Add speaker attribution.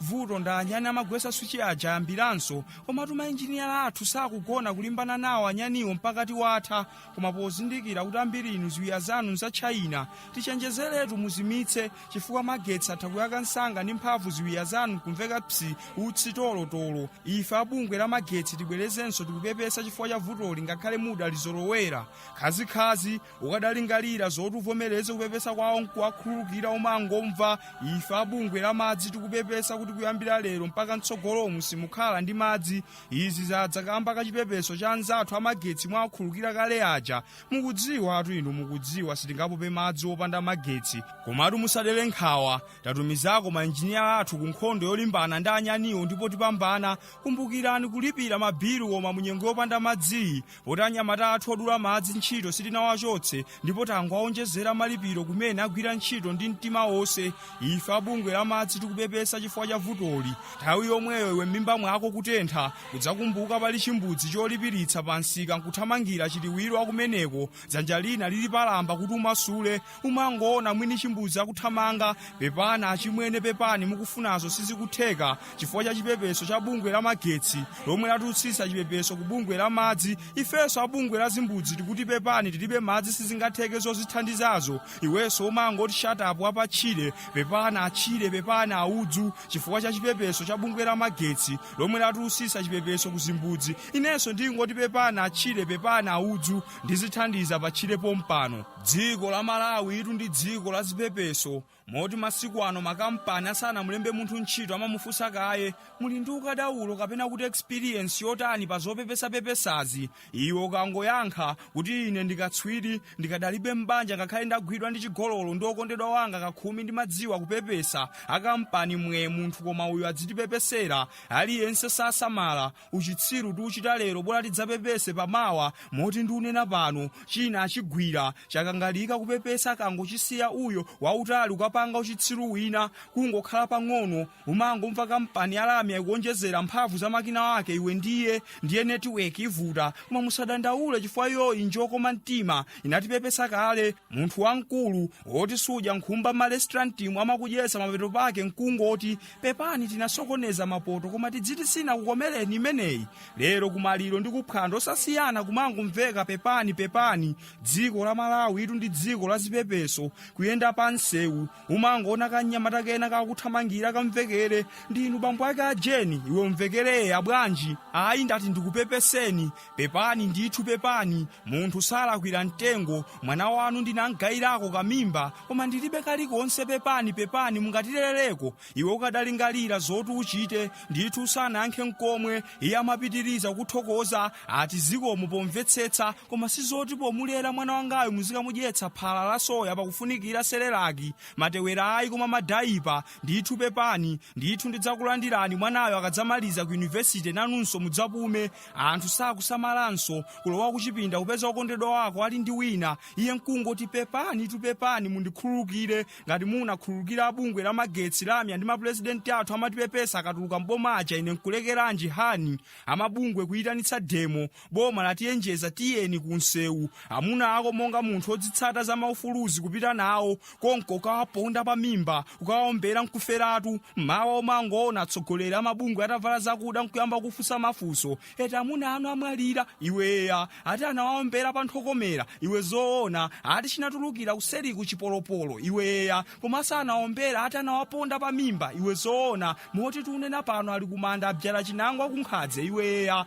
Speaker 1: vuto ndi anyani amagwesa swichi aja ayambiranso komatu mainjiniya athu sakugona kulimbana nawo anyaniwo mpaka tiwatha koma pozindikira kuti ambiri inu ziwiya zanu za china tichenjezeretu muzimitse chifukwa magetsi atha kuyaka msanga ndi mphamvu ziwiya zanu kumveka psi utsi tolotolo ife abungwe la magetsi tibwerezenso tikupepesa chifukwa cha vutoli ngakhale mudalizolowera khazikhazi ukadalingalira zoti uvomereze kupepesa kwawo nkuwakhululukira umangomva ife abungwe la madzi tikupepesa kuti kuyambira lero mpaka mtsogolomu simukhala ndi madzi izi zadza kamba ka chipepeso cha anzathu amagetsi mwawakhululukira kale aja mukudziwatu inu mukudziwa sitingapope madzi opanda magetsi komatu musadere nkhawa tatumizako mainjiniya athu ku nkhondo yolimbana ndi anyaniwo ndipo tipambana kumbukirani kulipira mabilu koma munyengo yopanda madziyi poti anyamata athu odula madzi ntchito sitinawachotse ndipo tangowawonjezera malipiro kumene agwira ntchito ndi mtima wonse ife abungwe la madzi tikupepesa chifukwa cha vutoli nthawi yomweyo iwe m'mimba mwako kutentha kudzakumbuka pali chimbudzi cholipiritsa pa msika nkuthamangira chiliwiro wakumeneko dzanja lina lili palamba kuti umasule umangoona mwini chimbudzi akuthamanga pepani achimwene pepani mukufunazo sizikutheka chifukwa cha chipepeso cha bungwe la magetsi lomwe lautsitsa chipepeso ku bungwe la madzi ifenso a bungwe la zimbudzi tikuti pepani tilibe madzi sizingatheke zozithandizazo iwenso umangoti shatapu wapatchire pepani atchire pepani audzu chifukwa cha chipepeso cha bungwe la magetsi lomwe lautsitsa chipepeso ku zimbudzi inenso ndingoti pepani atchire pepani audzu ndizithandiza patchire pompano dziko la malawitu ndi dziko la zipepeso moti masiku ano makampani asanamulembe munthu ntchito amamufunsa kaye muli ndi ukadaulo kapena kuti experience yotani pa zopepesapepesazi iwe ukangoyankha kuti ine ndikatswiri ndikadalipobe m'banja ngakhale ndagwidwa ndi chigololo ndi okondedwa wanga kakhumi ndimadziwa kupepesa akampani mwe munthu koma uyu adzitipepesera aliyense sasamala uchitsiru tiuchita lero bola tidzapepese pamawa moti ndiunena pano china achigwira chakangalika kupepesa kangochisiya uyo wautali ukapanga uchitsiru wina kungokhala pang'ono umangomva kampani ya lamya ikuonjezera mphamvu za makina ake iwe ndiye ndiye netiweki ivuta koma musadandaule chifukwa iyoyi njokoma mtima inatipepesa kale munthu wamkulu woti sudya nkhumba m'malesitirantimu amakudyetsa mapeto pake nkungoti pepani tinasokoneza mapoto koma tidziti sinakukomereni imeneyi lero kumaliro ndi kuphwando osasiyana kumangomveka pepani pepani dziko la malawitu ndi dziko la zipepeso kuyenda pa msewu umangoona kanyamata kena kakuthamangira kamvekere ndinu bambo ake a jeni iwe umvekere eya bwanji ayi ndati ndikupepeseni pepani ndithu pepani munthu salakwira mtengo mwana wanu ndinamgayirako kamimba koma ndilibe kalikonse pepani pepani mungatilerereko iwe ukadalingalira zoti uchite ndithu usanayankhe nkomwe iye amapitiriza kuthokoza ati zikomo pomvetsetsa koma sizoti pomulera mwana wangayu muzikamudyetsa phala la soya pakufunikira serelaki matewera ayi koma madayipa ndithu pepani ndithu ndidzakulandirani mwanayo akadzamaliza ku yunivesite nanunso mudzapume anthu sakusamalanso kulowa kuchipinda kupeza okondedwa wako ali ndi wina iye nkungoti pepani tu pepani mundikhululukire ngati munakhululukira bungwe la magetsi lamya ndi mapurezidenti athu amatipepesa akatuluka mboma aja ine nkulekeranji hani amabungwe kuyitanitsa demo boma latiyenjeza tiyeni kunsewu amuna ako monga munthu odzitsata za maufuluzi kupita nawo konko akawaponda pa mimba akawaombera nkuferatu mawa umangoona atsogoleri amabungwe atavala zakuda nkuyamba kufunsa mafunso eti amuna anu amwalira iwe eya ati anawaombera pa nthu wokomera iwe zoona ati chinatulukira kuseri ku chipolopolo iwe eya koma sanaombere ati anawaponda pa mimba iwe zoona moti tunena pano ali kumanda abzala chinangwa kunkhadze iwe eya